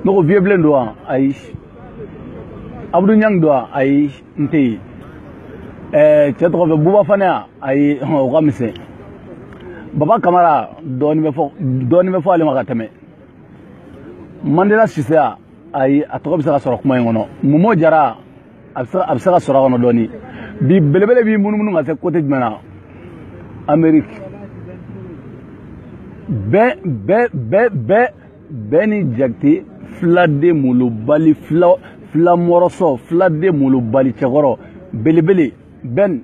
ne ko vieux bilen don wa ayi abudu ɲang don wa ayi n tɛ yen ɛɛ cɛ tɔgɔ fɛ buba fane wa ayi o ka misɛn baba kamara dɔɔni bɛ fɔ ale ma ka tɛmɛ mandela sise wa ayi a tɔgɔ bɛ se ka sɔrɔ kuma in kɔnɔ momo jara a bɛ se ka sɔrɔ a kɔnɔ dɔɔni bi belebele b'i munumunu ka se kote jumɛn na ameriki bɛn bɛn bɛn bɛn bɛn jakite filaden molobali fila mɔrɔsɔ filaden molobali cɛkɔrɔ belebele bɛn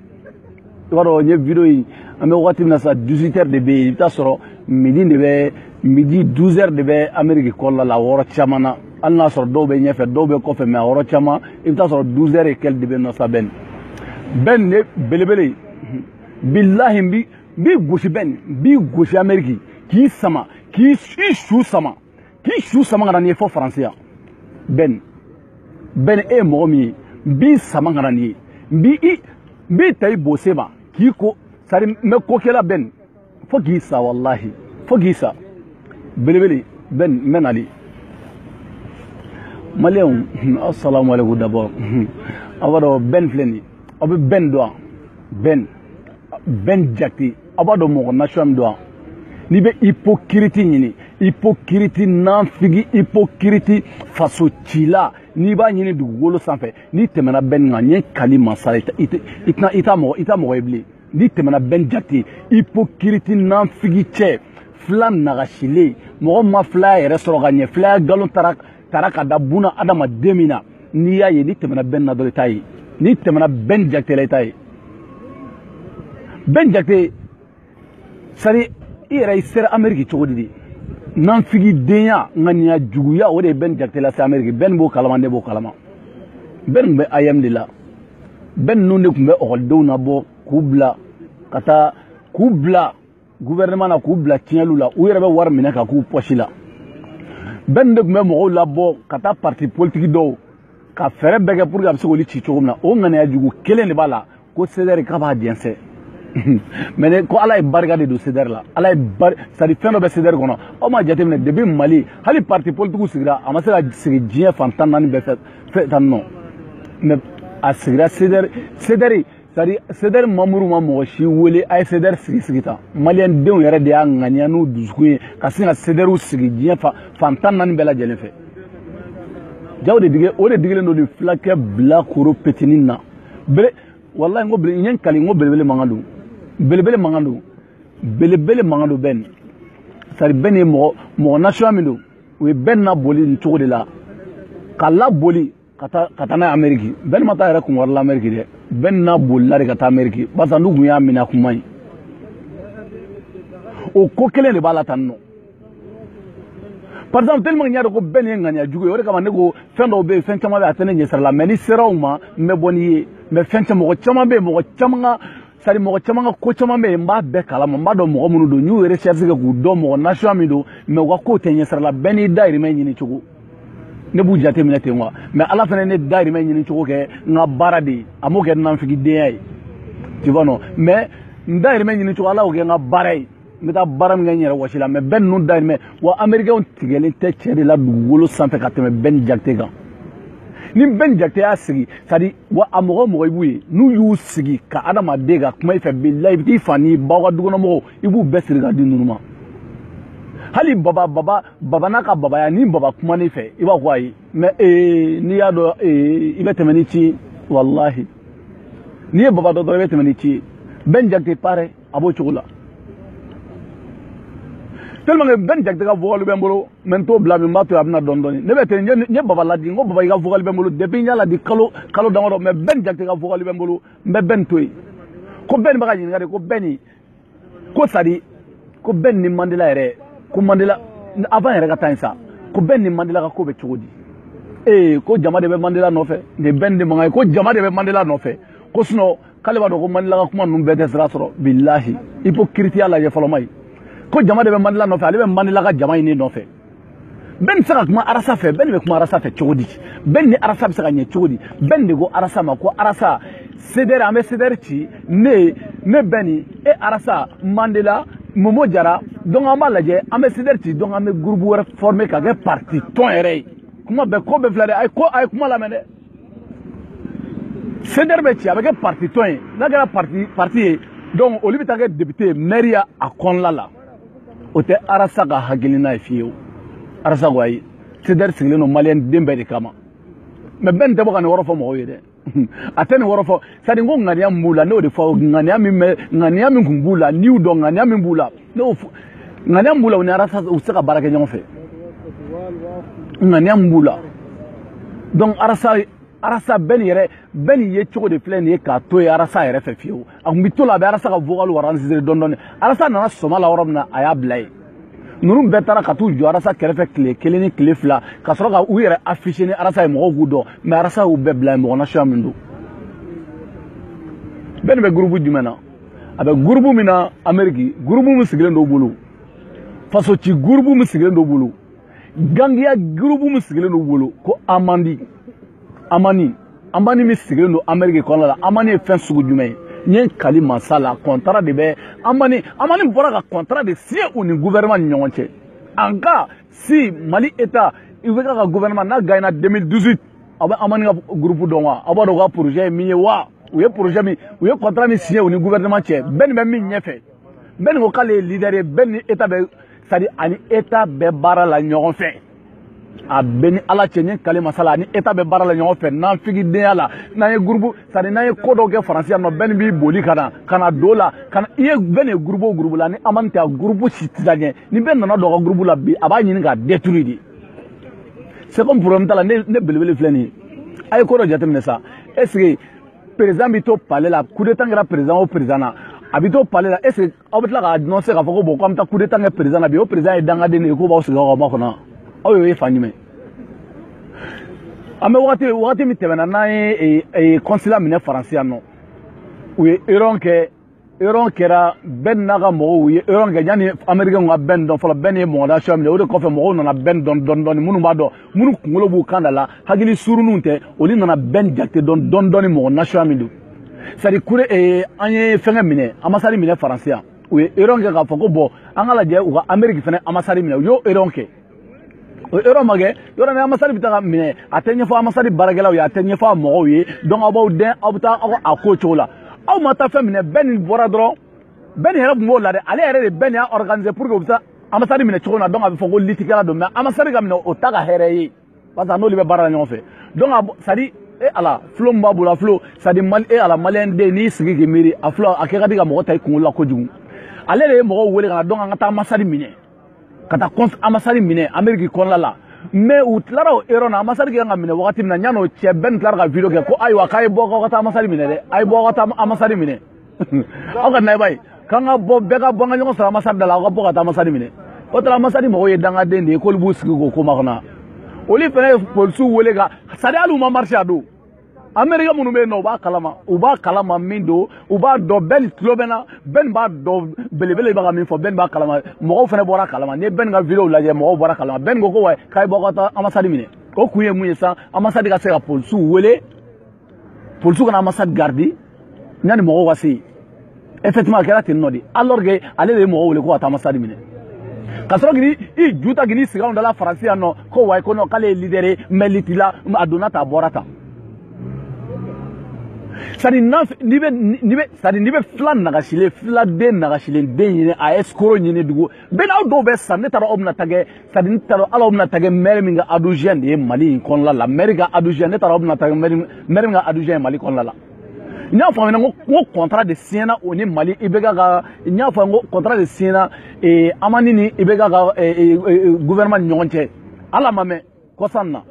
i b'a dɔn n ye video in an bɛ wagati min na sa 18 heures de bɛ yen i bɛ taa sɔrɔ midi 12 heures de bɛ ameriki kɔnɔna la a yɔrɔ caman na hali n'a sɔrɔ dɔw bɛ ɲɛfɛ dɔw bɛ kɔfɛ mɛ a yɔrɔ caman i bɛ taa sɔrɔ 12 heures et quelques de bɛ nɔ sa bɛn bɛn ne belebele bilahi n bi n b'i gosi bɛn n b'i gosi ameriki k'i sama k'i i su sama k'i su sama ka na n'i ye fo faransi yan bɛn bɛn e ye mɔgɔ min ye n b'i sama ka na n'i ye n b'i i n b'i ta i bose ma k'i ko sari n bɛ ko k'i la bɛn fo k'i sa walahi fo k'i sa belebele bɛn n bɛ nali maliyɛnw asalamu aleykum d'abord aw b'a dɔn bɛn filɛ nin ye aw bɛ bɛn dɔn wa bɛn bɛn jakite aw b'a dɔn mɔgɔ nation min don n'i bɛ ipokiriti ɲini ipokiriti nanfigi ipokiriti faso cila n'i b'a ɲini dugukolo sanfɛ n'i tɛmɛna bɛn kan n ye kali masa la i t'a mɔgɔ ye bilen n'i tɛmɛna bɛn jakite ipokiriti nanfigi cɛ fila nagasilen mɔgɔ ma filaya yɛrɛ sɔrɔ ka ɲɛ filaya nkalon tara tara ka da bunaadamaden min na n'i y'a ye n'i tɛmɛna bɛn na dɔrɔn i t'a ye n'i tɛmɛna bɛn jakite la i t'a ye bɛn jakite sari i yɛrɛ i sera ameriki cogo di de nanfigidenya ŋaniya juguya o de ye bɛn jakite lase ameriki bɛn b'o kalama ne b'o kalama bɛn tun bɛ aeem de la bɛn ninnu de tun bɛ ekɔlidenw nabɔ k'u bila ka taa k'u bila gouvernement na k'u bila tiɲɛliw la u yɛrɛ bɛ wari minɛ k'a k'u pɔsi la bɛn de tun bɛ mɔgɔw labɔ ka taa parti politiki dɔw ka fɛɛrɛ bɛɛ kɛ pour que a bɛ se k'olu ci cogo min na o ŋaniya jugu kelen de b'a la ko sedɛri k'a b'a jɛnsɛn mɛ ne ko ala ye barika de don sedɛri la ala ye bari sadi fɛn dɔ bɛ sedɛri kɔnɔ aw m'a jateminɛ depi mali hali parti politikiw sigira a ma se ka sigi diɲɛ fan tan naani bɛɛ fɛ tan nɔ mɛ a sigira sedɛri sedɛri sari sedɛri mamuru ma mɔgɔ si wele a ye sedɛri sigi sigi tan maliyɛndenw yɛrɛ de y'a ŋaniya n'u dusukun ye ka sin ka sedɛriw sigi diɲɛ fan tan naani bɛɛ lajɛlen fɛ jaa o de digi o de digilen don nin filakɛ bilakoro petinin na bele walayi n ko bele n ye n kali n ko belebele mankan don belebele mankan don belebele mankan don bɛn sari bɛn ye mɔgɔ nation min don u ye bɛn naboli nin cogo de la k'a laboli ka taa n'a ye ameriki bɛn ma taa a yɛrɛ kun wari la ameriki dɛ bɛn nabolila de ka taa ameriki barisa n'u kun y'a minɛ kuma ye o ko kelen de b'a la tan nɔ par exemple tellement n y'a dɔn ko bɛn ye ŋaniya jugu ye o de kama ne ko fɛn dɔw bɛ yen fɛn caman bɛ a tɛ ne ɲɛsira la mɛ ni n sera u ma n bɛ bɔ n'i ye mɛ fɛn caman mɔgɔ caman bɛ yen mɔgɔ caman ka sari mɔgɔ caman ka ko caman bɛ yen n b'a bɛɛ kalama n b'a dɔn mɔgɔ minnu don n y'u recherche kɛ k'u dɔn mɔgɔ nation min don mɛ u ka kow tɛ n ɲɛsira la bɛɛ n'i dayirimɛ ɲini cogo ne b'u jate minɛ ten quoi mɛ ala fana ne dayirimɛ ɲini cogo kɛ n ka baara de ye a m'o kɛ nanfigidenya ye tu vois non mɛ n dayirimɛ ɲini cogo ala y'o kɛ n ka baara ye n bɛ taa baara min kɛ n yɛrɛ wɔsi la mɛ bɛn ninnu dayirimɛ wa amerikɛnw tigɛlen tɛ cɛ de la dugukolo sanfɛ ka tɛmɛ bɛn jakite kan ni bɛn jakite y'a sigi sadi wa a mɔgɔ mɔgɔ i b'u ye n'u y'u sigi ka adamaden ka kuma i fɛ bilahi i bɛ t'i fa n'i ba aw ka dukɔnɔmɔgɔw i b'u bɛɛ siri ka di ninnu ma hali baba baba baba n'a ka babaya ni baba kuman'i fɛ i b'a fɔ ayi mɛ ee n'i y'a dɔn ee i bɛ tɛmɛ n'i ci ye walahi n'i ye baba dɔn dɔrɔn i bɛ tɛmɛ n'i ci ye bɛn jakite pareil a b'o cogo la tellement que bɛn jakite ka vocal bɛ n bolo mɛ n t'o bila min b'a to a bɛ na dɔɔni dɔɔni ne bɛ ten n ye baba ladi n ko baba i ka vocal bɛ n bolo depuis n y'a ladi kalo kalo damadɔ mɛ bɛn jakite ka vocal bɛ n bolo n bɛ bɛn to yen ko bɛn bɛ ka ɲininka de ko bɛn ni ko sadi ko bɛn ni mandela yɛrɛ ko mandela avant yɛrɛ ka taa yen sa ko bɛn ni mandela ka ko bɛ cogo di ee ko jama de bɛ mandela nɔfɛ nin bɛn de mankan ye ko jama de bɛ mandela nɔfɛ ko sinon k'ale b'a dɔn ko mandela ka kuma ninnu bɛɛ tɛ sira sɔrɔ bilahi ipokiritiya lajɛ fɔlɔma ye ko jama de bɛ mandela nɔfɛ ale bɛ mandela ka jama nin nɔfɛ bɛn tɛ se ka kuma arasa fɛ bɛn bɛ kuma arasa fɛ cogo di bɛn ni arasa bɛ se ka ɲɛ cogo di bɛn de ko arasa ma ko arasa sedɛri an bɛ sedɛri ci ne ne bɛn e arasa mandela momo jara donc an b'a lajɛ an bɛ sedɛri ci donc an bɛ gurupu wɛrɛ fɔrme ka kɛ parti tɔn yɛrɛ ye kuma bɛɛ ko bɛɛ filɛ dɛ a ye ko a ye kuma lamɛn dɛ sedɛri bɛ ci a bɛ kɛ parti tɔn ye n'a kɛra parti ye donc olu bɛ taa kɛ député maireya a kɔnɔla la o tɛ arasa ka hakilina ye fiyewu arasa ko ayi sedɛri sigilen don maliyɛnden bɛɛ de kama mɛ bɛn tɛ bɔ ka nin wɔrɔ fɔ mɔgɔw ye dɛ a tɛ nin wɔrɔ fɔ sadi ko ŋaniya min b'u la n'o de fɔ ŋaniya min bɛ ŋaniya min kun b'u la n'i y'u dɔn ŋaniya min b'u la n'o ŋaniya min b'u la u ni arasa u tɛ se ka baara kɛ ɲɔgɔn fɛ ŋaniya min b'u la donc arasa arasa bɛn nin yɛrɛ bɛn nin ye cogo de filɛ nin ye k'a to ye arasa yɛrɛ fɛ fiyewu a tun bɛ to la a bɛ arasa ka vocalw enregistrer dɔɔni dɔɔni arasa nana sɔmɔ la yɔrɔ min na a y'a bila yen ninnu bɛɛ taara ka t'u jɔ arasa kɛrɛfɛ tile kelen ni tile fila ka sɔrɔ ka u yɛrɛ afficher ni arasa ye mɔgɔw k'u dɔn mais arasa y'u bɛɛ bila yen mɔgɔ nasuya min don bɛn nin bɛ groupe jumɛn na a bɛ groupe min na ameriki groupe min sigilen don u bolo faso ci groupe min sigilen don u bolo gangiya groupe min sigilen don u bolo ko amandi amani amani min sigilen don ameriki kɔnɔna la amani ye fɛn sugu jumɛn ye n ye kali masa ala contrat de bɛ amani amani bɔra ka contrat de signer u ni gouvernement ni ɲɔgɔn cɛ en cas si mali état IBK ka gouvernement n'a gagna 2018 aw bɛ amani ka groupe dɔn wa aw b'a dɔn u ka projet ye min ye wa u ye projet min u ye contrat min signer u ni gouvernement cɛ bɛn nin bɛ min ɲɛfɛ bɛn nin ko k'ale ye leader ye bɛn ni état bɛ c'est à dire a ni état bɛ baara la ɲɔgɔn fɛ a bɛ ne ni ala cɛ n ye kali masa ala a ni état bɛ baara la ɲɔgɔn fɛ n'an figidenya la n'an ye groupe c'est à dire n'an ye ko dɔw kɛ faransi yan nɔ bɛn nin b'i boli ka na ka na don la ka na i ye bɛn nin ye groupe o groupe la ni amani tɛ a groupe si tɛ taa ɲɛ ni bɛn nana don a ka groupe la bi a b'a ɲini k'a détruire de c'est comme problème t'a la ne ne belebele filɛ nin ye a ye ko dɔ jateminɛ sa est ce que président bɛ to palais la coup d'état kɛra président o président na a bɛ to palais la est ce que aw bɛ tila k'a annoncer k'a fɔ ko bon k'an bɛ taa coup d'état kɛ président na bi o président ye dangaden de ye k'o b'a sigi k'aw makɔnɔ aw y'o ye fan jumɛn an bɛ wagati wagati min tɛmɛna n'an ye consulat minɛ faransi yan nɔ u ye erreur kɛ erreur kɛra bɛn n'a ka mɔgɔw ye erreur kɛ yanni Américain ka bɛn dɔn fɔlɔ bɛn ye mɔgɔ nasuya min ye o de kɔfɛ mɔgɔw nana bɛn dɔn dɔɔni dɔɔni minnu b'a dɔn minnu kunkolo b'u kan da la hakili suruninw tɛ olu nana bɛn jate dɔn dɔɔni dɔɔni mɔgɔ nasuya min don c'est à dire que eh, an ye fɛngɛ minɛ ambassade minɛ faransi yan u ye erreur kɛ k'a fɔ ko bon an ka lajɛ u ka Amérique fana ambassade minɛ u y'o erreur kɛ erreur ma kɛ yɔrɔ min ambassade bɛ taa ka minɛ a tɛ ɲɛfɔ ambassade baarakɛlaw ye a tɛ ɲɛfɔ a mɔgɔw ye donc aw b'aw dɛn aw bɛ taa aw a ko cogo la aw ma taa fɛn minɛ bɛn nin bɔra dɔrɔn bɛn nin yɛrɛ tun b'o la dɛ ale yɛrɛ de bɛn nin y'a organiser pour que u bɛ taa ambassade minɛ cogo min na donc a bɛ fɔ ko lutte kɛla don mais ambassade ka minɛ o t'a ka hɛrɛ ye parce que a n'olu bɛ baara la ɲɔgɔn fɛ donc a c'est à dire e ala fulo min b'a bolo a fulo c'est à dire mali e ala maliyɛn den n'i sigi k'i miiri a fulo a kɛ ka di ka mɔgɔ ta i kunkolo la kojugu ale de ye mɔgɔw wele ka na donc an ka taa ambassade minɛ ka taa ambassade minɛ ameriki kɔnɔna la mais u tilara o erreur na ambassade kan ka minɛ wagati min na yan'o cɛ bɛn nin tilara ka video kɛ ko ayiwa k'a ye bɔ k'aw ka taa ambassade minɛ dɛ a ye bɔ aw ka taa ambassade minɛ aw ka na i b'a ye k'an ka bɔ bɛɛ ka bɔ an ka ɲɔgɔn sɔrɔ ambassade da la aw ka bɔ ka taa ambassade minɛ o tara ambassade mɔgɔw ye dangaden de ye k'olu b'u sigi k'o ko makɔnɔ olu fana ye polisiw wele ka c'est à dire hali u ma marcher a don amerika minnu bɛ yen nɔ u b'a kalama u b'a kalama min don u b'a dɔn bɛni tulo bɛ na bɛni b'a dɔn belebele bɛ ka min fɔ bɛni b'a kalama mɔgɔw fana bɔr'a kalama n'i ye bɛni ka video lajɛ mɔgɔw bɔr'a kalama bɛni ko ko wa k'a ye bɔ ka taa anbasadi minɛ o kun ye mun ye sisan anbasadi ka se ka polisiw wele polisiw ka na anbasadi garidi yanni mɔgɔw ka se yen effectivement a kɛra ten nɔ de alors que ale de ye mɔgɔw wele ko ka taa anbasadi minɛ ka sɔrɔ k'i ju ta k'i sigi anw dala faransi yan nɔ ko wayi ko non k'ale ye leader ye mais liti la a donna tan a bɔra tan c'est à dire n'i bɛ n'i bɛ c'est à dire n'i bɛ fila nagasilen filaden nagasilen den ɲini a escroc ɲini dugu bɛɛ n'aw dɔw bɛ sa ne taara aw bɛna taa kɛ c'est à dire ne taara ala aw bɛna taa kɛ mɛri min ka adjoint de ye mali in kɔnɔna la mɛri ka adjoint ne taara aw bɛna taa kɛ mɛri mɛri min ka adjoint ye mali kɔnɔna la n y'a faamuya ko n ko contrat de siɲɛna o ni mali IBK ka n y'a faamuya ko contrat de siɲɛna ee amani ni IBK ka ee gouvernement ni ɲɔgɔn cɛ ala ma mɛn kɔsan na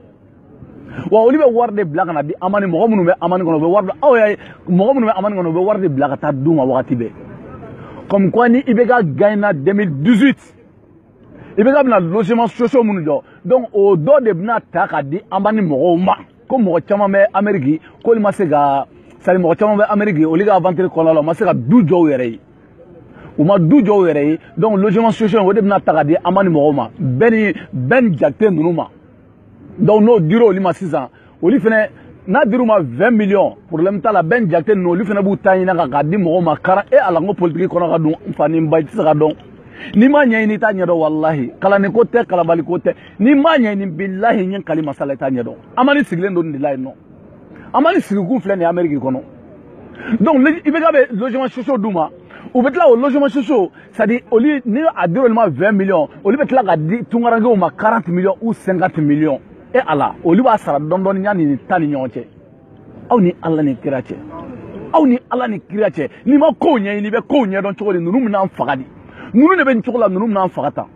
wa olu bɛ wari de bila ka na di amani mɔgɔ minnu bɛ amani kɔnɔ u bɛ wari bila aw y'a ye mɔgɔ minnu bɛ amani kɔnɔ u bɛ wari de bila ka taa d'u ma wagati bɛɛ comme quoi ni IBK gaɲɛna 2018 IBK bɛna logement sociaux minnu jɔ donc o dɔ de bɛna ta ka di amani mɔgɔw ma. ko mɔgɔ caman bɛ ameriki k'olu ma se ka c'est à dire mɔgɔ caman bɛ ameriki olu ka avantiri kɔnɔna la u ma se ka du jɔ u yɛrɛ ye u ma du jɔ u yɛrɛ ye donc logement social o de bɛna ta ka di amani mɔgɔw ma bɛni bɛni jakite ninnu ma donc n'o dira olu ma sisan olu fana n'a dir'u ma 20 millions problème t'a la bɛni jakite ninnu olu fana b'u ta ɲin'a kan k'a di mɔgɔw ma 40 e ala n ko politiki kɔnɔ ka dun n fa ni n ba i tɛ se k'a dɔn n'i m'a ɲɛɲini i t'a ɲɛdɔn walahi kalanniko tɛ kalanbaliko tɛ n'i m'a ɲɛɲini bilahi n ye n kali masa la i t'a ɲɛdɔn amani sigilen don nin de la yen nɔ amani sigikun filɛ nin ye ameriki kɔnɔ donc IBK bɛ logement sociaux d'u ma u bɛ tila o logement sociaux c'est à dire olu ni a dir'u ma 20 millions olu bɛ tila ka di tungarankew ma 40 millions ou 50 millions e ala olu b'a sara dɔɔni dɔɔni yanni nin ta ni ɲɔgɔn cɛ aw ni ala ni kira cɛ aw ni ala ni kira cɛ n'i ma kow ɲɛɲini i bɛ kow ɲɛdɔn cogo di ninnu bɛn'an faga de ninnu de bɛ nin cogo la ninnu bɛn'an faga tan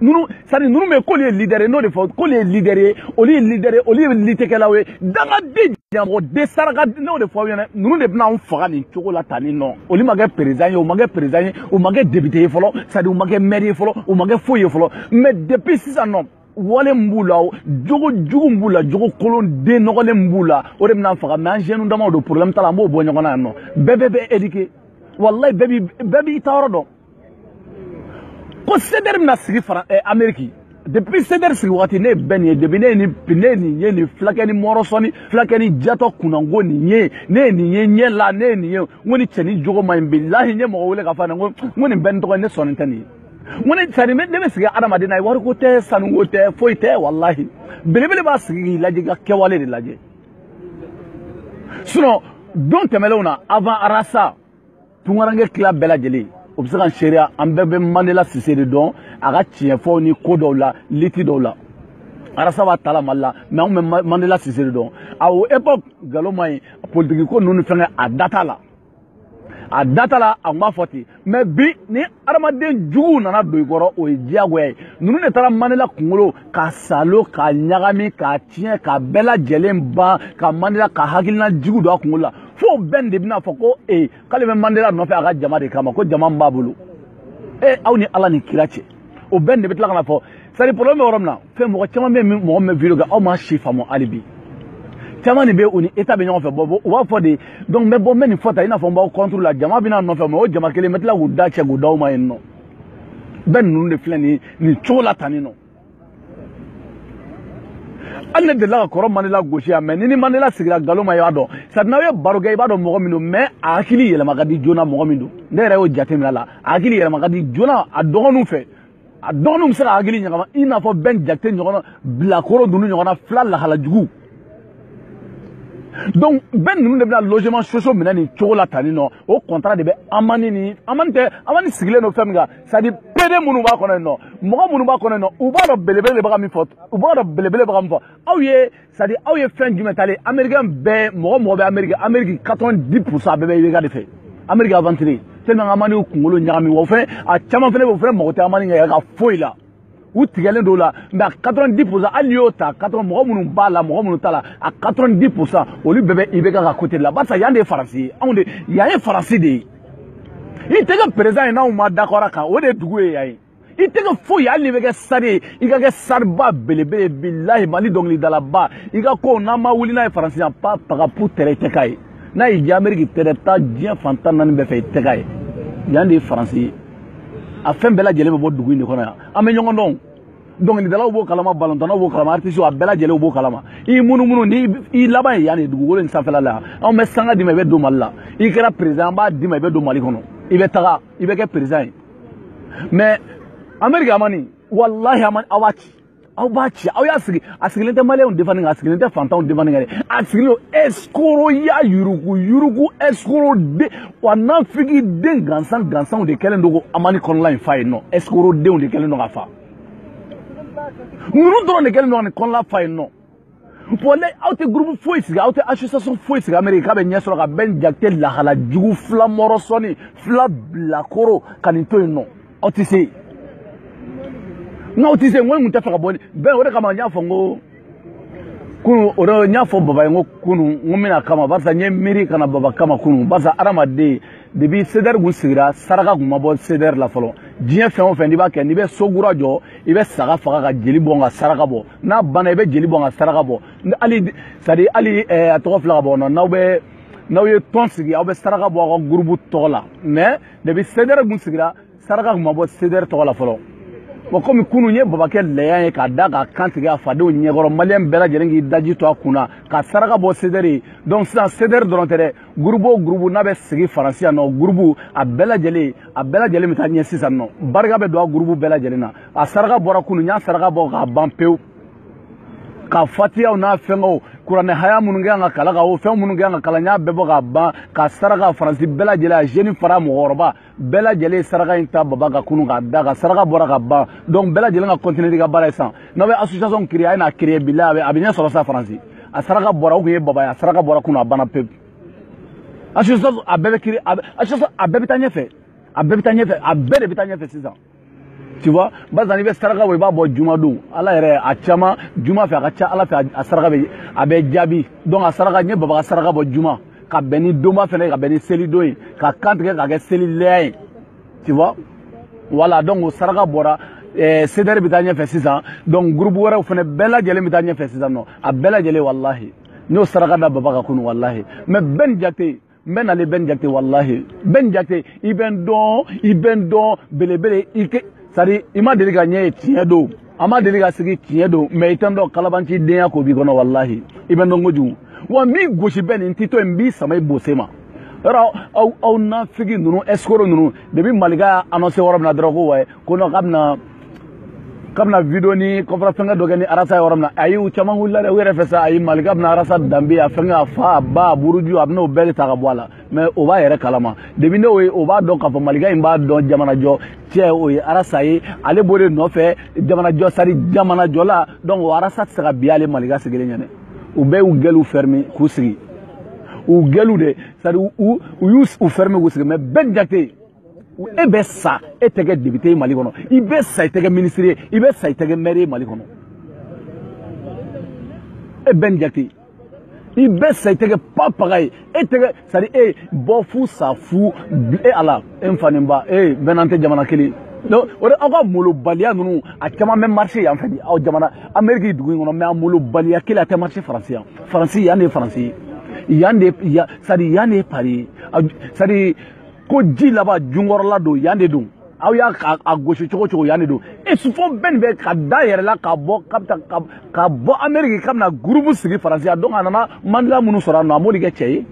nunu c'est à dire nunu bɛ k'olu ye leader ye n'o de fɔ k'olu ye leader ye olu ye leader ye olu ye litekɛlaw ye dangaden ɲamɔgɔden saraka n'o de fɔ aw ɲɛna nunu de bɛna anw faga nin cogo la tan ni nɔ olu ma kɛ perezidan ye u ma kɛ perezidan ye u ma kɛ depite ye fɔlɔ c'est à dire u ma kɛ mɛri ye fɔlɔ u ma kɛ foyi ye fɔlɔ mais depuis sisan nɔ wale min b'u la jogo jugu min b'u la jogo kolon den nɔgɔlen min b'u la o de bɛn'an faga mais an jeunes damaw don problème t'a la an b'o bɔ ɲɔgɔn na yan nɔ bɛɛ bɛɛ bɛ éduquer walayi bɛɛ b'i ta yɔrɔ dɔn ko sedɛri bɛna sigi fara ɛ ameriki depuis sedɛri sigi wagati ne ye bɛn nin ye depuis ne ye nin ne ye nin ye nin fulakɛ ni mɔrɔsɔni fulakɛ ni jatɔ kunnanko nin ye ne ye nin ye ɲɛ la ne ye nin ye n ko nin cɛ nin jogo man ɲi bilahi n ye mɔgɔ wele k'a fɔ a ɲɛna n ko n ko nin bɛn nin tɔgɔ ye ne sɔnni tɛ nin ye n ko ne sani ne bɛ sigi adamaden na ye wariko tɛ sanuko tɛ foyi tɛ walahi belebele b'a sigi k'i lajɛ ka kɛwale de lajɛ sinon don tɛmɛnlenw na avant arasa tunkaranke tila bɛɛ lajɛlen o bɛ se ka seereya an bɛɛ bɛ mandela sise de dɔn a ka tiɲɛfɔw ni ko dɔw la lutte dɔw la arasa b'a tala mali la mais anw bɛ mandela sise de dɔn a o epoque nkalon man ɲi politiki ko ninnu ni fɛnkɛ a da t'a la a da t'a la a kun b'a fɔ ten mais bi ni adamaden juguw nana don i kɔrɔ o ye diyagoya ye ninnu de taara mandela kunkolo ka salo ka ɲagami ka tiɲɛ ka bɛɛ lajɛlen ban ka mandela ka hakilina jugu don a kunkolo la fo bɛn de bɛna fɔ ko ee k'ale bɛ mandela nɔfɛ a ka jama de kama ko jama min b'a bolo ee aw ni ala ni kira cɛ o bɛn de bɛ tila ka na fɔ c'est à dire problème bɛ yɔrɔ min na fɛn mɔgɔ caman bɛ mɔgɔ min bɛ video kɛ aw ma si faamu hali bi caman de bɛ u ni état bɛ ɲɔgɔn fɛ bɔ u b'a fɔ de donc n bɛ bɔ n bɛ nin fɔ tan i n'a fɔ n b'aw contre la jama bɛ ne nɔfɛ mais o jama kelen n bɛ tila k'u da cɛ k'u d'aw ma yen nɔ bɛn ninnu de filɛ nin nin cogo la tan nin nɔ hali ne delila ka kɔrɔ mandela gosi yan mais ni ni mandela sigira nkalon ma i b'a dɔn c'est à dire n'aw ye baro kɛ i b'a dɔn mɔgɔ min don mais a hakili yɛlɛma ka di joona mɔgɔ min don ne yɛrɛ y'o jateminɛ a la a hakili yɛlɛma ka di joona a dɔgɔninw fɛ a dɔgɔninw bɛ se k'a hakili ɲagama i n'a fɔ bɛn jakite ɲɔgɔnna bilakoro ninnu ɲɔgɔnna fila lahala jugu donc bɛn ninnu de bɛna logements sociaux minɛ nin cogo la tan nin nɔ o contrat de bɛ amani ni amani tɛ amani sigilen don fɛn min kan c'est à dire pd minnu b'a kɔnɔ yen nɔ mɔgɔ minnu b'a kɔnɔ yen nɔ u b'a dɔn belebele de bɛ ka min fɔ u b'a dɔn belebele bɛ ka min fɔ aw ye c'est à dire aw ye fɛn jumɛn talen américain bɛɛ mɔgɔ mɔgɔ bɛ ameriki ameriki quatre vingt dix pour cent bɛɛ bɛ ibeka de fɛ ameriki aventuriers de bɛ ka amani kunkolo ɲagami wa o fɛn a caman fɛnɛ bɛ o fɛnɛ mago tɛ amani ka ka foyi la u tigɛlen don la mais a quatre vingt dix pour cent hali n'i y'o ta quatre vingt mɔgɔ minnu b'a la mɔgɔ minnu t'a la a quatre vingt dix pour cent olu bɛɛ bɛ ibeka ka côté la barisa yan de ye faransi ye anw de yan ye faransi de ye i tɛ kɛ président ye n'anw ma d'accord a kan o de ye dugu ye yan ye i tɛ kɛ foyi hali n'i bɛ kɛ star ye i ka kɛ starba belebele ye bilahi mali dɔnkilidalaba i ka kow n'an ma wuli n'a ye faransi yan pa pagapu tɛrɛ i tɛ k'a ye n'a y'i diya ameriki tɛrɛ taa diɲɛ fan tan ni naani bɛɛ fɛ i tɛ k'a ye yan de ye faransi ye a fɛn bɛɛ lajɛlen bɛ bɔ dugu in de kɔnɔ yan an bɛ ɲɔgɔn dɔn dɔnkilidalaw b'o kalama balontannaw b'o kalama artisiw a bɛɛ lajɛlenw b'o kalama i munumunu ni i laban ye yan de dugukolo in sanfɛla la yan anw bɛ sanga d'i ma i bɛ don mali la i kɛra président an b'a d'i ma i bɛ don mali kɔnɔ i bɛ taga i bɛ kɛ président ye mɛ ameriki amani walahi amani aw b'a ci aw b'a ci aw y'a sigi a sigilen tɛ maliyɛnw defani kan a sigilen tɛ fantanw defani kan dɛ a sigilen don ɛsikoroya yurugu yurugu ɛsikoro den wa nafigi den gansan gansanw de kɛlen don ko amani kɔnɔla in fa yen nɔ ɛsikoro denw de kɛlen don k'a fa ninnu dɔrɔn de kɛlen don ka nin kɔnɔla fa yen nɔ bɔn ne aw tɛ gurupu foyi sigi aw tɛ association foyi sigi ameriki k'a bɛ ɲɛ sɔrɔ ka bɛn jakite lahala jugu fila mɔrɔ sɔni fila bilakoro ka nin to yen nɔ aw tɛ se n'aw tɛ se n ko n kun tɛ fɛ ka bɔ bɛn o de kama n y'a fɔ n ko kunu o de n y'a fɔ baba ye n ko kunu n ko n bɛ n'a kama barisa n ye miiri ka na baba kama kunu barisa adamaden depi sedɛri kun sigira saraka kun ma bɔ sedɛri la fɔlɔ diɲɛ fɛn o fɛn n'i b'a kɛ n'i bɛ so kura jɔ i bɛ saga faga ka jeli bɔn ka saraka bɔ n'a banna i bɛ jeli bɔn ka saraka bɔ hali c'est-à-dire hali a tɔgɔ fila ka bɔ nɔ n'aw bɛ n'aw ye tɔn sigi aw bɛ saraka bɔ aw ka gurubu tɔgɔ la mɛ depi sedɛri kun sigira saraka kun ma bɔ sedɛri tɔgɔ la fɔlɔ wa komi kunu n ye baba kɛ lɛya ye k'a da k'a kan tigɛ a fadenw ɲɛkɔrɔ maliyɛn bɛɛ lajɛlen k'i daji tu a kun na ka saraka bɔ sedɛri ye donc sisan sedɛri dɔrɔn tɛ dɛ gurubu o gurubu n'a bɛ sigi faransi yan nɔ gurubu a bɛɛ lajɛlen a bɛɛ lajɛlen bɛ taa ɲɛ sisan nɔ barika bɛ don a gurubu bɛɛ lajɛlen na a saraka bɔra kunu n y'a saraka bɔ k'a ban pewu ka fatiyaw n'a fɛngɛw kuranɛ haya minnu kɛ ka kalan ka o fɛn minnu kɛ ka kalan n y'a bɛɛ bɔ ka ban ka saraka faransi bɛɛ lajɛlen a jeune fara mɔgɔkɔrɔba bɛɛ lajɛlen saraka in ta baba ka kunu k'a da ka saraka bɔra ka ban donc bɛɛ lajɛlen ka kɔntine n'i ka baara ye sisan n'aw bɛ association créer a ye n'a créer bilahi a bɛ ɲɛ sɔrɔ sa faransi a saraka bɔra o kun ye baba ye a saraka bɔra kunu a banna pewu association a bɛɛ bɛ créer association a bɛɛ bɛ taa ɲɛfɛ a bɛɛ bɛ taa ɲɛfɛ a bɛɛ de bɛ taa ɲɛfɛ sisan tu vois barisa n'i bɛ saraka bɔ i b'a bɔ juma don ala yɛrɛ a caman juma fɛ a ka ca ala fɛ a saraka bɛ a bɛ jaabi donc a saraka n ye baba ka saraka bɔ juma ka bɛn ni donba fɛnɛ ye ka bɛn ni selidon ye k'a kan tigɛ k'a kɛ selilɛya ye tu vois voilà donc o saraka bɔra eh, sedɛri bɛ taa ɲɛfɛ sisan donc gurupu wɛrɛw fɛnɛ bɛɛ lajɛlen bɛ taa ɲɛfɛ sisan nɔ a bɛɛ lajɛlen walahi n y'o saraka da baba kan kunu walahi mɛ bɛn jakite n bɛ n kali bɛn jakite walahi bɛn jakite i bɛ n dɔn i bɛ n dɔn belebele i kɛ c'est-à-dire i ma deli ka ne ye tiɲɛ don an ma deli ka sigi tiɲɛ don mɛ i tɛ n dɔn kalabanci denya ko b'i kɔnɔ walahi i bɛ n dɔn kojugu wa n b'i gosi bɛn n t'i to n b'i sama i bonsi ma yɔrɔ aw aw nafigi ninnu escroc ninnu depi malika y'a annoncer yɔrɔ min na dɔrɔn ko wayi ko non k'a bɛna k'a bɛna video ni conférence fɛngɛ dɔ kɛ ni arasa yɔrɔ min na ayi u caman wulila dɛ u yɛrɛ fɛ sa ayi malika bɛna arasa danbe a fɛngɛ a fa a ba a buruju a bɛn'o bɛɛ de ta ka bɔ a la mɛ o b'a yɛrɛ kalama depi ne o ye o b'a dɔn k'a fɔ malika in b'a dɔn jamanajɔ cɛ o ye arasa ye ale b'o de nɔfɛ jamanajɔ c'est-à-dire jamanajɔla donc o arasa tɛ se ka bin ale malika sigilen ɲɛ na u bɛɛ y'u gɛliw fɛrimi k'u sigi u gɛliw de c'est-à-dire u y'u fɛrimi k'u sigi mɛ bɛn jakite e bɛ sa e tɛ kɛ depite ye mali kɔnɔ i bɛ sa i tɛ kɛ minisiri ye i bɛ sa i tɛ kɛ mɛri ye mali kɔnɔ e bɛn jakite i bɛ sa i tɛ kɛ papaga ye e tɛ kɛ c'est-à-dire e bɔ fu sa fu e ala e n fa ni n ba e bɛɛ n'an tɛ jamana kelen donc o de aw ka molobaliya ninnu a caman bɛ marché yan fɛ bi aw jamana amérique dugu in kɔnɔ mais a molobaliya kelen a tɛ marché faransi yan faransi yan de ye faransi ye yan de yan c'est-à-dire yan de ye pari ye c'est-à-dire ko ji laban junkɔrɔla don yan de don aw y'a a gosi cogo cogo yan de don e sufo bɛn nin bɛ ka da yɛrɛ la ka bɔ ka bɛ ka ka bɔ ameriki k'a bɛna gurupu sigi faransi yan donc a nana mandela minnu sɔrɔ a nɔ a m'olu kɛ cɛ ye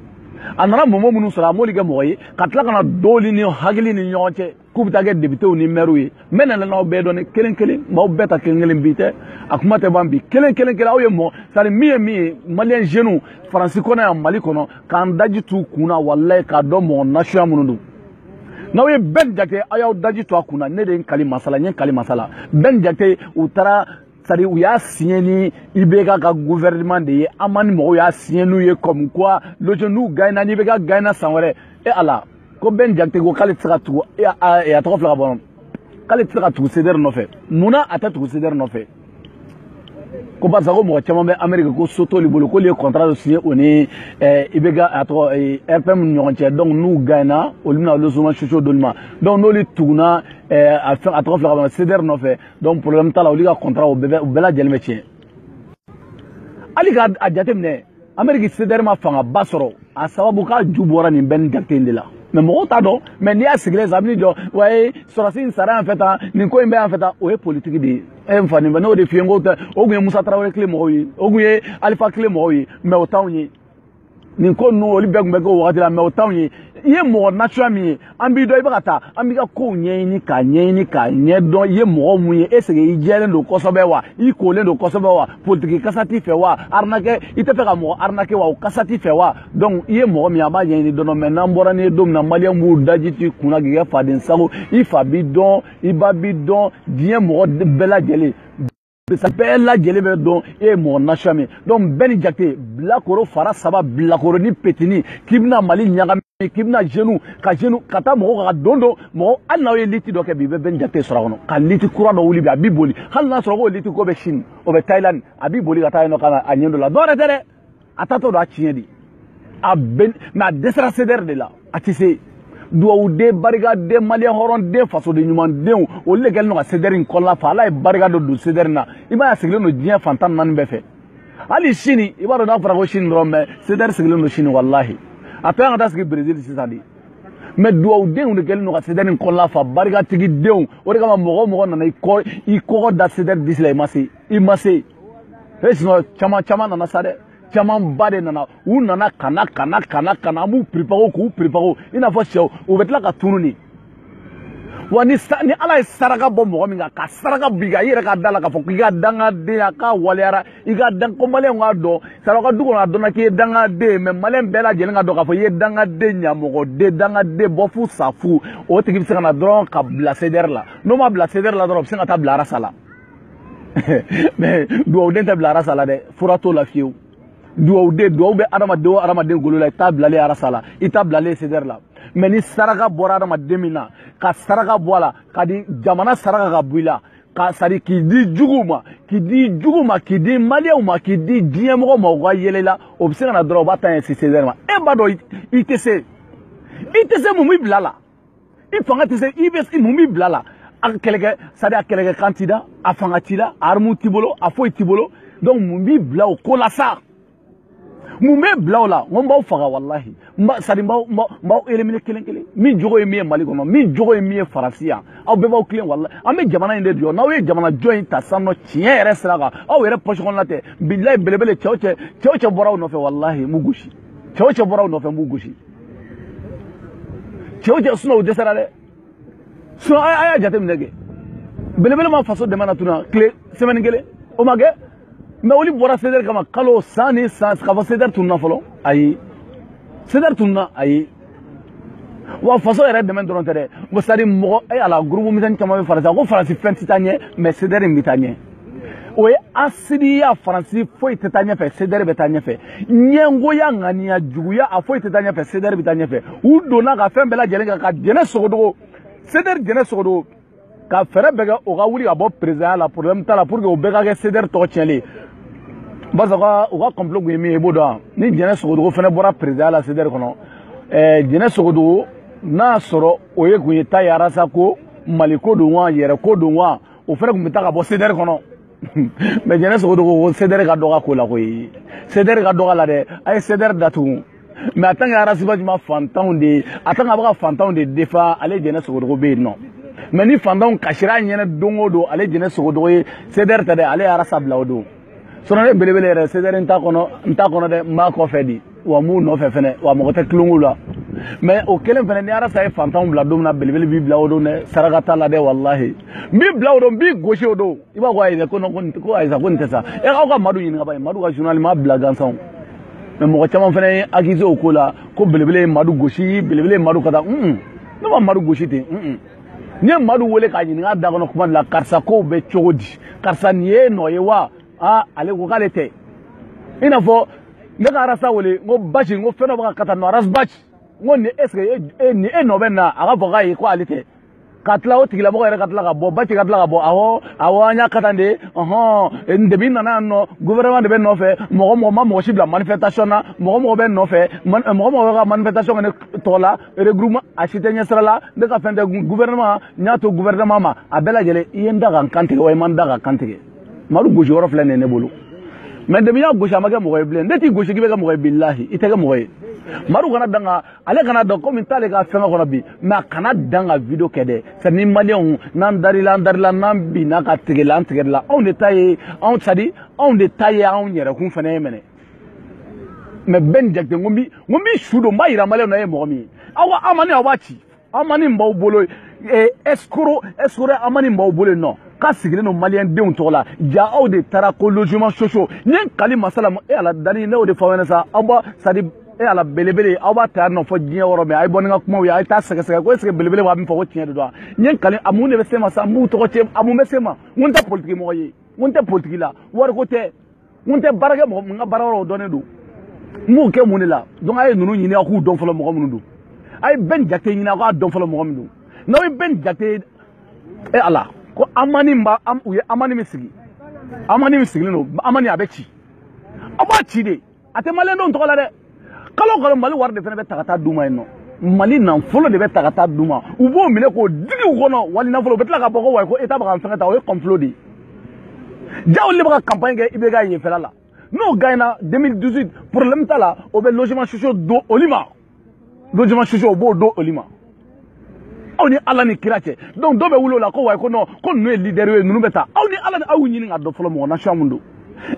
a nana mɔmɔ minnu sɔrɔ a m'olu kɛ mɔgɔ ye ka tila ka na dɔɔli ni hakili ni ɲɔgɔn cɛ k'u bɛ taa kɛ depitew ni mɛriw ye n bɛ na n'aw bɛɛ dɔn kelen kelen n b'aw bɛɛ ta kelen kelen bi tɛ a kuma tɛ ban bi kelen kelen kelen aw ye mɔgɔ c'est-à-dire min ye min ye maliyɛn zeniw faransi kɔnɔ yan mali kɔnɔ k'an daji t'u kun na walayi k'a dɔn mɔgɔ nasuya minnu don n'aw ye bɛn jakite aw y'aw daji to a kun na ne de ye n kali masala n ye n kali masala bɛn jakite u taara c'est-à-dire u y'a siɲɛ ni ibeka ka gouvernement de ye an ma ni mɔgɔw y'a siɲɛ n'u ye comme quoi lojɛ n'u gagna n'ibeka gagna san wɛrɛ e ala ko bɛn jakite ko k'ale tɛ se ka tugu a tɔgɔ filɛ ka bɔ k'ale tɛ se ka tugu sedɛri nɔfɛ mun na a tɛ tugu sedɛri nɔfɛ ko barisa ko mɔgɔ caman bɛ ameriki ko so t'olu bolo k'olu ye kɔntara dɔ siɲɛ o ni ibeka a tɔgɔ rpm ni ɲɔgɔn cɛ donc n'u gagna olu bɛna logement sociaux d'olu ma donc n'olu tugunna a tɔgɔ filɛ ka bɔ sedɛri nɔfɛ donc problème t'a la olu ka kɔntara o bɛɛ lajɛlen bɛ tiɲɛ hali k'a jateminɛ ameriki sedɛri ma fangaba sɔrɔ a sababu k'a ju bɔra nin bɛn jakite in de la mɛ mɔgɔw t'a dɔn mɛ n'i y'a sigilen sa a bɛ n'i jɔ wa ye sɔrɔsi in sara yan fɛ tan nin ko in bɛ yan fɛ tan o ye politiki de ye e n fa nin fɛ n'o de f'i ye n ko tɛ o tun ye musa tarawele tile mɔgɔw ye o tun ye alifa tile mɔgɔw ye mɛ o t'anw ye nin ko ninnu olu bɛɛ tun bɛ kɛ o wagati la mɛ o t'anw ye i ye mɔgɔ nasuya min ye an b'i dɔn i bɛ ka taa an b'i ka kow ɲɛɲini k'a ɲɛɲini k'a ɲɛdɔn i ye mɔgɔ mun ye est ce que i jɛlen don kosɛbɛ wa i kolen don kosɛbɛ wa politiki kasa t'i fɛ wa arinakɛ i tɛ fɛ ka mɔgɔ arinakɛ wa o kasa t'i fɛ wa donc i ye mɔgɔ min an b'a ɲɛɲini dɔɔnin dɔɔnin mɛ n'an bɔra n'i ye don min na maliyɛn b'u daji t'i kunna k'i kɛ faden sago i fa b'i dɔn i ba b'i dɔn diɲɛ mɔgɔ bɛɛ lajɛlen bɛɛ lajɛlen b'i dɔn e ye mɔgɔ nasuya min donc bɛn jakite bilakoro fara saba bilakoronin petini k'i bɛna mali ɲagami k'i bɛna jenu ka jenu ka taa mɔgɔw ka don don mɔgɔ hali n'aw ye liti dɔ kɛ bi i bɛ bɛn jakite sɔrɔ a kɔnɔ ka liti kura dɔ wuli bi a b'i boli hali n'a sɔrɔ k'o liti ko bɛ sini o bɛ thailand a b'i boli ka taa yen nɔ ka na a ɲɛ dɔ la dɔwɛrɛ tɛ dɛ a taatɔ don a tiɲɛ de a bɛ mɛ a dɛsɛra sedɛri de la a tɛ se dugawuden barikaden maliyɛn hɔrɔnden fasoden ɲumandenw olu de kɛlen don ka sedɛri in kɔnɔna fa ala ye barika dɔ don sedɛri na i b'a ye a sigilen don diɲɛ fan tan ni naani bɛɛ fɛ hali sini i b'a dɔn n'a fɔra ko sini dɔrɔn mɛ sedɛri sigilen don sini walahi a tɛ an ka taa sigi berezil sisan de mɛ dugawudenw de kɛlen don ka sedɛri in kɔnɔna fa barikatigidenw o de kama mɔgɔ o mɔgɔ nana i kɔ i kɔgɔ da sedɛri disi la i ma se i ma se e sinɔn caman caman nana sa dɛ camanba de nana u nana ka na ka na ka na ka na an b'u préparer k'u préparer i n'a fɔ sɛw u bɛ tila ka tunu de wa ni ni ala ye saraka bɔ mɔgɔ min kan ka saraka b'i kan i yɛrɛ ka da la k'a fɔ k'i ka dangadenya k'a waleyara i ka dan ko maliyɛn k'a dɔn sara ka du kɔnɔ a dɔnna k'i ye dangaden ye mɛ maliyɛn bɛɛ lajɛlen k'a dɔn k'a fɔ i ye dangaden ɲamɔgɔden dangaden bɔ fu sa fu o tigi bɛ se ka na dɔrɔn ka bila sedɛri la n'o ma bila sedɛri la dɔrɔn o bɛ se ka taa bila arasa la mais dugawuden tɛ bila arasa la dɛ fura t'o la fiyewu dugawuden dugawu bɛ adamaden o adamaden golo la i t'a bilalen arasa la i t'a bilalen sedɛri la mɛ ni saraka bɔra adamaden min na ka saraka bɔ a la ka di jamana saraka ka bɔ i la ka sari k'i di juguw ma k'i di jugu ma k'i di maliyɛnw ma k'i di diɲɛmɔgɔw ma u ka yɛlɛ la o bɛ se ka na dɔrɔn u b'a ta ɲɛsin sedɛri ma e b'a dɔn i tɛ se i tɛ se mun b'i bila la i fanga tɛ se i bɛ mun b'i bila la a kɛlɛkɛ sadi a kɛlɛkɛ kan t'i da a fanga t'i la a arme t'i bolo a foyi t'i bolo donc mun b'i bila o ko la sa mun b'i bila o la n ko n b'aw faga walahi n b'a sadi n b'aw n b'aw éliminer kelen kelen min jogo ye min ye mali kɔnɔ min jogo ye min ye faransi yan aw bɛɛ b'aw tilen walahi an bɛ jamana in de jɔ n'aw ye jamana jɔ in ta sisan nɔ tiɲɛ yɛrɛ sira kan aw yɛrɛ poche kɔnɔna tɛ bilayi belebele cɛ o cɛ cɛ o cɛ bɔra aw nɔfɛ walahi n b'u gosi cɛ o cɛ bɔra aw nɔfɛ n b'u gosi cɛ o cɛ sinɔn u dɛsɛra dɛ sinɔn a y'a jateminɛ kɛ belebele ma faso dɛmɛ na tuna tile sɛmɛni kelen o ma kɛ mɛ olu bɔra sedɛri kama kalo san ni san k'a fɔ sedɛri tununa fɔlɔ ayi sedɛri tununa ayi wa faso yɛrɛ dɛmɛ dɔrɔn tɛ dɛ ko sadi mɔgɔ e ala gurupu misɛnni caman bɛ faransi ko faransi fɛn tɛ taa ɲɛ mɛ sedɛri in bɛ taa ɲɛ o ye asidiya faransi foyi tɛ taa ɲɛfɛ sedɛri bɛ taa ɲɛfɛ ɲɛngoya ŋaniya juguya a foyi tɛ taa ɲɛfɛ sedɛri bɛ taa ɲɛfɛ u donna ka fɛn bɛɛ lajɛlen kan ka jɛnɛ sogodogo sedɛri jɛnɛ sogodogo ka fɛɛrɛ bɛɛ kɛ o ka wuli ka bɔ perezidanya la problème t'a la pour que o bɛɛ ka kɛ cdr tɔgɔ tiɲɛlen barisa u ka u ka complot kun ye min ye i b'o dɔn ni jɛnɛ sogodogo fana bɔra perezidanya la cdr kɔnɔ ɛɛ jɛnɛ sogodogo n'a y'a sɔrɔ o ye kun ye ta ye arasa ko mali ko don wa yɛrɛ ko don wa o fana kun bɛ taa ka bɔ cdr kɔnɔ mɛ jɛnɛ sogodogo ko cdr ka dɔgɔ ko la koyi cdr ka dɔgɔ la dɛ a ye cdr datugu mais a tant que arasi basi ma fantanw de ye a tant que a bɛ ka fantanw de défend ale jɛnɛ sogodogo bɛ yen nɔ mais ni fantanw kasira a ɲɛnɛ don o don ale jɛnɛ sogodogo ye cdr tɛ dɛ ale ye arasa bila o don sinon ne belebele yɛrɛ cdr n t'a kɔnɔ n t'a kɔnɔ dɛ n b'a kɔfɛ dɛ wa n b'u nɔfɛ fɛnɛ wa mɔgɔ tɛ tulonko la mais o kelen fɛnɛ ni arasa ye fantanw bila don min na belebele b'i bila o don dɛ saraka t'a la dɛ walahi n b'i bila o don n b'i gosi o don i b'a fɔ ayi dɛ ko ko ayisa ko nin tɛ sa e aw ka madu ɲininka ba ye madu ka journal m'a bila gansan mais mɔgɔ caman fana ye accusé o ko la ko belebele ye madu gosi belebele ye madu ka taa un ne ma madu gosi ten un ne ye madu wele k'a ɲininka da kɔnɔ kuma de la karisa kow bɛ cogo di karisa nin ye nɔ ye wa aa ale ko k'ale tɛ i n'a fɔ ne ka arasa wele n ko basi n ko fɛn dɔ bɛ ka ka taa nɔ arasi basi n ko nin est ce que nin e nɔ bɛ na a ka fɔ k'a ye ko ale tɛ ka tila o tigilamɔgɔ yɛrɛ ka tila ka bɔ ba cɛ ka tila ka bɔ awɔ awɔ an y'a ka tan de ɔhɔn depuis n nana yan nɔ gouvernement de bɛ n nɔfɛ mɔgɔ mɔgɔ ma mɔgɔ si bila manifestation na mɔgɔ mɔgɔ bɛ nɔfɛ mɔgɔ mɔgɔ bɛ ka manifestation kɛ ne tɔgɔ la regroupement a si tɛ ɲɛsira la ne ka fɛn tɛ gouvernement n y'a to gouvernement ma a bɛɛ lajɛlen i ye n da ka n kan tigɛ wa i ma n da ka n kan tigɛ madu gosi yɔrɔ filɛ nin ye ne bolo mais depuis n y'a gosi a ma kɛ mɔgɔ ye bilen ne t'i gosi k'i bɛ kɛ mɔgɔ ye bilahi i tɛ kɛ mɔgɔ ye madu kana dan ka ale kana dan komi t'ale ka fɛngɛ kɔnɔ bi mais a kana dan ka video kɛ dɛ sɛ ni maliyɛnw n'an darila an darila n'an binna ka tigɛla an tigɛla anw de ta ye anw sadi anw de ta ye anw yɛrɛkun fana ye mɛnɛ mais bɛn jakite n ko n b'i n ko n b'i su don n b'a yira maliyɛnw na e ye mɔgɔ min ye aw amani aw b'a ci amani b'aw bolo escroc escroc amani b'aw bolo yen nɔ k'a sigilen don maliyɛn denw tɔgɔ la ja aw de taara ko logement sociaux n ye n kali masala e ala dani ne y'o de fɔ aw ɲɛna sa aw b'a sadi e ala belebele aw b'a ta nɔ fɔ diɲɛ yɔrɔ min a ye bɔ ni n ka kumaw ye a ye taa sɛgɛsɛgɛ ko est ce que belebele b'a min fɔ ko tiɲɛ de don wa n ye kali a mun de bɛ se n ma sa n b'u tɔgɔ cɛn a mun bɛ se n ma n ko n tɛ politiki mɔgɔ ye n ko n tɛ politiki la wariko tɛ n ko n tɛ baarakɛ mɔgɔ min n ka baara yɔrɔ o dɔnnen don n b'o kɛ mun de la donc a ye ninnu ɲini aw k'u dɔn fɔlɔ mɔgɔ minnu don a ye bɛn jakite ɲini aw k'a dɔn fɔlɔ mɔgɔ min don n'aw ye bɛn jakite e ala ko amani ba u ye amani min sigi amani min sigilen don amani a bɛ ci aw b'a ci de a tɛ maliyɛndenw tɔgɔ la dɛ kalo o kalo mali wari de fana bɛ ta ka taa d'u ma yen nɔ mali nafolo de bɛ ta ka taa d'u ma u b'o minɛ k'o digi u kɔnɔ wali nafolo u bɛ tila ka bɔ ko wayi ko état bɛ ka n fɛngɛ ta o ye complot de ye ja olu de bɛ ka campagne kɛ ibk yenfɛla la n'o gaɲɛna 2018 problème t'a la o bɛ logement sociaux d'olu ma logement sociaux o b'o d'olu ma aw ni ala ni kira cɛ donc dɔ bɛ wuli o la ko wayi ko non ko ninnu ye leader ye ninnu bɛ taa aw ni ala ni aw ɲini k'a dɔn fɔlɔ mɔgɔ nation mun don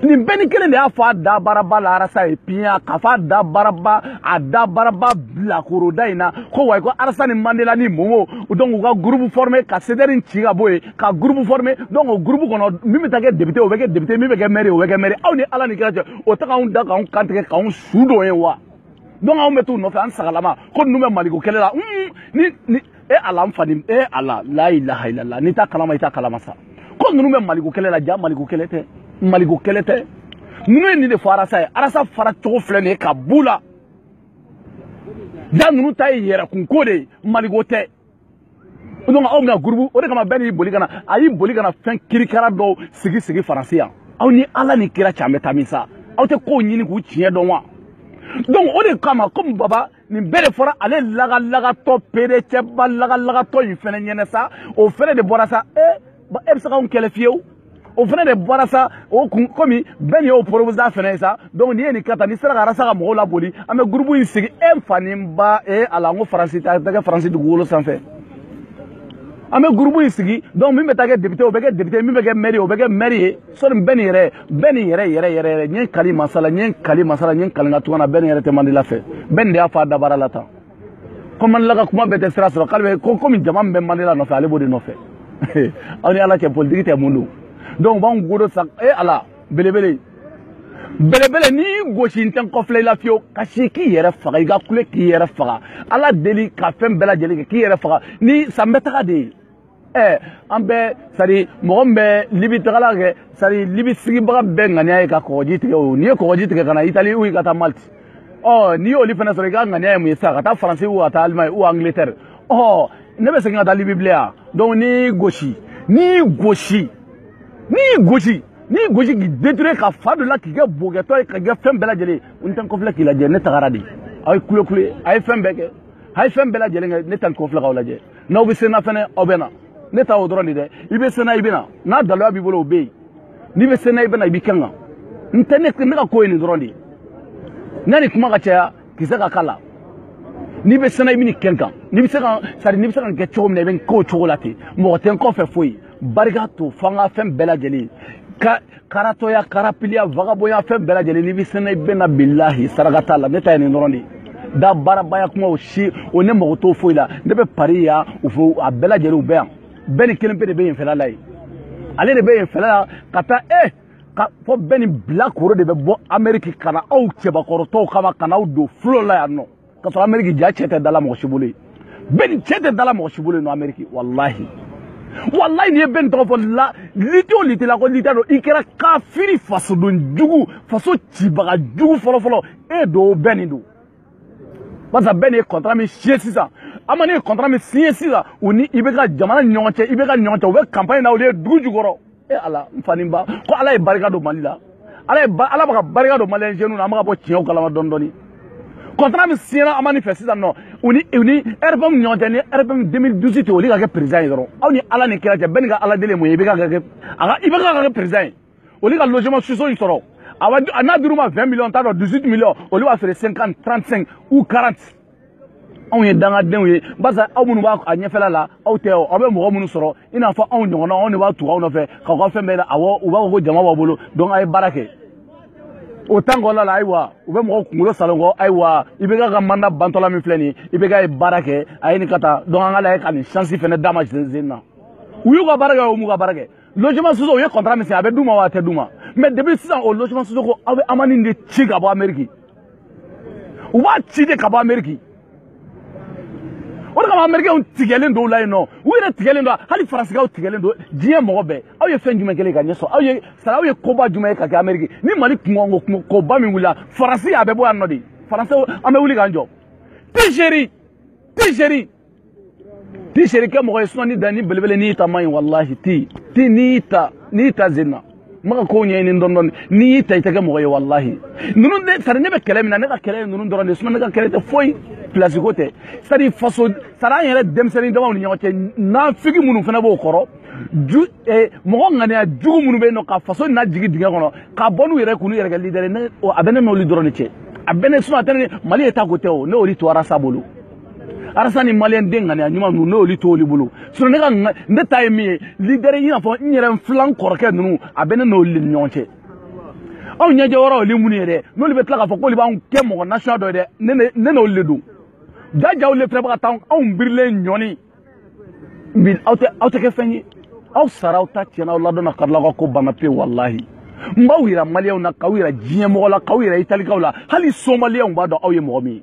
nin bɛn in kelen de y'a fɔ a da baraba la arasa ye piɲa k'a fɔ a da baraba a da baraba bilakoroda in na ko wayi ko arasa ni mandela ni momo donc u ka groupe formé ka cdr in ci ka bɔ yen ka groupe formé donc o groupe kɔnɔ min bɛ taa kɛ député o bɛ kɛ député min bɛ kɛ maire o bɛ kɛ maire aw ni ala ni kira cɛ o tɛ k'anw da k'anw kantigɛ k'anw su don ye wa donc anw bɛ t'u nɔfɛ an sagalama ko ninnu bɛ maliko kɛlɛ la ni ni e ala n fa ni e ala la ilaha illallah n'i t'a kalama i t'a kalama sa ko ninnu bɛ maliko kɛlɛ la ja maliko kɛlɛ tɛ maliko kɛlɛ tɛ ninnu ye nin de fɔ arasa ye arasa fara cogo filɛ nin ye ka b'u la ja ninnu ta ye yɛrɛkunko de ye maliko tɛ donc aw bɛna gurubu o de kama bɛn nin y'i boli ka na a y'i boli ka na fɛn kirikara dɔw sigi sigi faransi yan aw ni ala ni kira cɛ an bɛ taa min sa aw tɛ kow ɲini k'u tiɲɛ dɔn wa donc o de kama komi baba nin bɛɛ de fɔra ale lagalagatɔ pedecɛba lagalagatɔ in fɛnɛ ɲɛnɛ sa o fɛnɛ de bɔra sa ee eh, bon e bɛ se k'anw kɛlɛ fiyewu o fana de bɔra sa o kun komi bɛn nin y'o porobusa fana ye sa donc n'i ye nin kɛ tan n'i sera ka arasa ka mɔgɔw laboli an bɛ gurupu in sigi e fa ni n ba e ala n ko faransi ta tɛ kɛ faransi dugukolo sanfɛ an bɛ gurupu in sigi donc min bɛ taa kɛ depite o bɛ kɛ depite min bɛ kɛ mɛri o bɛ kɛ mɛri ye sɔni bɛn nin yɛrɛ bɛn nin yɛrɛ yɛrɛ yɛrɛ yɛrɛ n ye kali masa la n ye kali masa la n ye kali n ka tugana bɛn nin yɛrɛ tɛ mandela fɛ bɛn nin de y'a fɔ a dabara la tan ko mandela ka kuma bɛɛ tɛ sira sɔrɔ k'ale bɛ ko komi jama min bɛ mandela nɔfɛ ale b'o de nɔfɛ aw ni ala cɛ politiki tɛ mun don donc u b'anw godo sa e ala belebele belebele n'i y'i gosi n tɛ n kɔfilɛ i la fiyewu kasi k'i yɛrɛ faga i ka kule k'i yɛrɛ faga ala deli ka fɛn bɛɛ lajɛlen kɛ k'i yɛrɛ faga ni san bɛ taga de ye ɛɛ an bɛ sari mɔgɔ min bɛ libi tagala kɛ sari libi sigibaga bɛɛ ŋaniya ye ka kɔgɔji tigɛ o n'i ye kɔgɔji tigɛ ka na itali u ka taa maliti ɔ n'i y'olu fana sɔrɔ i ka ŋaniya ye mun ye sisan ka taa faransi u ka taa alimani u angletɛri ɔ ne bɛ segin ka taa libi bilen yan donc n'i gosi n'i gosi n'i gosi n'i gosi k'i deture ka fa dɔ la k'i kɛ bogɛtɔ ye ka kɛ fɛn bɛɛ lajɛlen n tɛ n kɔfilɛ k'i lajɛ ne tagara de aw ye kulekule a ye fɛn bɛɛ kɛ a ye fɛn bɛɛ lajɛlen kɛ ne tɛ n kɔfilɛ k'aw lajɛ n'aw bɛ se n na fɛnɛ aw bɛ na ne ta o dɔrɔn de dɛ i bɛ se n na i bɛ na n'a daloya b'i bolo o bɛ yen n'i bɛ se n na i bɛ na i b'i kɛ n kan n tɛ ne ne ka ko ye nin dɔrɔn de ye n'a ni kuma ka caya kisɛ ka k'a la n'i bɛ se n na i bɛ nin kɛ n kan n'i bɛ se ka sari n'i bɛ se ka nin kɛ cogo min na i bɛ nin k'o cogo la ten mɔgɔ tɛ n kɔfɛ foyi barika to fo an ka fɛn bɛɛ lajɛlen ka karatɔya karapiliya vagabɔnya fɛn bɛɛ lajɛlen n'i bɛ se n na i bɛ na bilahi saraka t'a la ne ta ye nin dɔrɔn de ye dabarabaya kuma o si o ne mago t'o foyi la ne bɛ pari yan u fo a bɛɛ lajɛlen u bɛ yan bɛn nin kelen pe de bɛ yen fɛla la yen ale de bɛ yen fɛla la ka taa e ka fɔ bɛn nin bilakoro de bɛ bɔ ameriki ka na aw cɛbakɔrɔtɔw kama ka n'aw don fulo la yan nɔ ka sɔrɔ ameriki ja cɛ tɛ dala mɔgɔ si bolo ye bɛn cɛ tɛ dala mɔgɔ si bolo ye nɔ ameriki walahi walayi n'i ye bɛn tɔgɔ fɔ la lite o lite la ko lite don i kɛra kafiri fasoden jugu faso cibaga jugu fɔlɔfɔlɔ e don o bɛn nin don barisa bɛn nin ye kɔntara min siɲe sisan an ma ne ye kɔntara min siɲe sisan u ni ibeka jamana ni ɲɔgɔn cɛ ibeka ɲɔgɔn cɛ u bɛ kanpaɲi na olu ye dugu jukɔrɔ e ala n fa ni ba ko ala ye barika don mali la ala ala bɛ ka barika don maliyɛn jeunes na an bɛ ka bɔ tiɲɛw kalama dɔɔni dɔɔni kɔntara min siɲɛna amani fɛ sisan nɔ u ni u ni rpm ɲɔgɔn cɛ ni rpm 2018 olu ka kɛ président ye dɔrɔn aw ni ala ni kira cɛ bɛɛ ni ka ala deli mun ye ibk ka kɛ président ye olu ka logement sociaux in sɔrɔ a n'a dir'u ma 20 millions t'a dɔn 18 millions olu b'a feere 50 35 ou 40 anw ye dangadenw ye barisa aw minnu b'a ɲɛfɛla la aw tɛ aw bɛ mɔgɔ minnu sɔrɔ i n'a fɔ anw ɲɔgɔnna anw de bɛ tugu aw nɔfɛ k'aw ka fɛn bɛɛ la awɔ u b'a fɔ ko jama b'a bolo donc a ye baara kɛ o temps kɔnɔna la ayiwa u bɛ mɔgɔ kunkolo saalo ko ayiwa ibk mandat bantɔla min filɛ nin ye ibk ye baara kɛ a ye nin ka taa donc an ka lajɛ ka nin chance fɛnɛ d'a ma zen na u y'u ka baara kɛ o m'u ka baara kɛ logement sociaux o ye contrat min signé a bɛ d'u ma wa a tɛ d'u ma mais depuis sisan o logement sociaux ko aw bɛ amani de ci ka bɔ ameriki u b'a ci de ka bɔ ameriki o de kama amerikɛnw tigɛlen don u la yen nɔ u yɛrɛ tigɛlen don hali faransikaw tigɛlen don diɲɛ mɔgɔ bɛɛ aw ye fɛn jumɛn kelen ka ɲɛ sɔrɔ aw ye sara aw ye koba jumɛn ye ka kɛ ameriki ni mali kunko kunko koba min wulila faransi a bɛ bɔ yan nɔ de faransi an bɛ wuli k'an jɔ pejeri pejeri ti seri kɛ mɔgɔ ye sinɔn ni da ni belebele n'i ta man ɲi walahi ti ti n'i ta n'i ta zenna n bɛ ka kow ɲɛɲini dɔɔni dɔɔni n'i y'i ta i tɛ kɛ mɔgɔ ye walahi ninnu de sari ne bɛ kɛlɛ min na ne ka kɛlɛ ye ninnu dɔrɔn de sinɔn ne ka kɛlɛ tɛ foyi pilasi ko tɛ sari faso sari an yɛrɛ denmisɛnnin damaw ni ɲɔgɔn cɛ nafigi minnu fana b'o kɔrɔ ju eh, mɔgɔ ŋaniya jugu minnu bɛ yen nɔ ka faso lajigi dingɛ kɔnɔ ka bɔ n'u yɛrɛ k'u yɛrɛ kɛ lidɛri a bɛ ne n'olu dɔrɔn de cɛ a bɛ ne sinɔn a tɛ ne mali état ko tɛ o ne y'olu to ras bolo ras ni maliyɛn den ŋaniya ɲuman ninnu n'olu to olu bolo sinɔn ne ka ne ta ye min ye lidɛri i n'a fɔ n yɛrɛ n filan kɔrɔkɛ ninnu a bɛ ne n'olu de ni ɲɔgɔn cɛ aw ɲɛjɛ wɔrɔ olu minnu ye dɛ n'olu bɛ tila k'a fɔ k'olu b'anw kɛ mɔgɔ nasuya dɔ ye dɛ ne n'olu de don jajaw le fana bɛ ka taa anw birilen ɲɔni bi aw tɛ aw tɛ kɛ fɛn ye aw sara aw ta tiɲɛna aw ladɔnna karilaw ka ko banna pewu walahi n b'aw yira maliyɛnw na k'aw yira diɲɛmɔgɔ la k'aw yira italikaw la hali somaliyɛnw b'a dɔn aw ye mɔgɔ min ye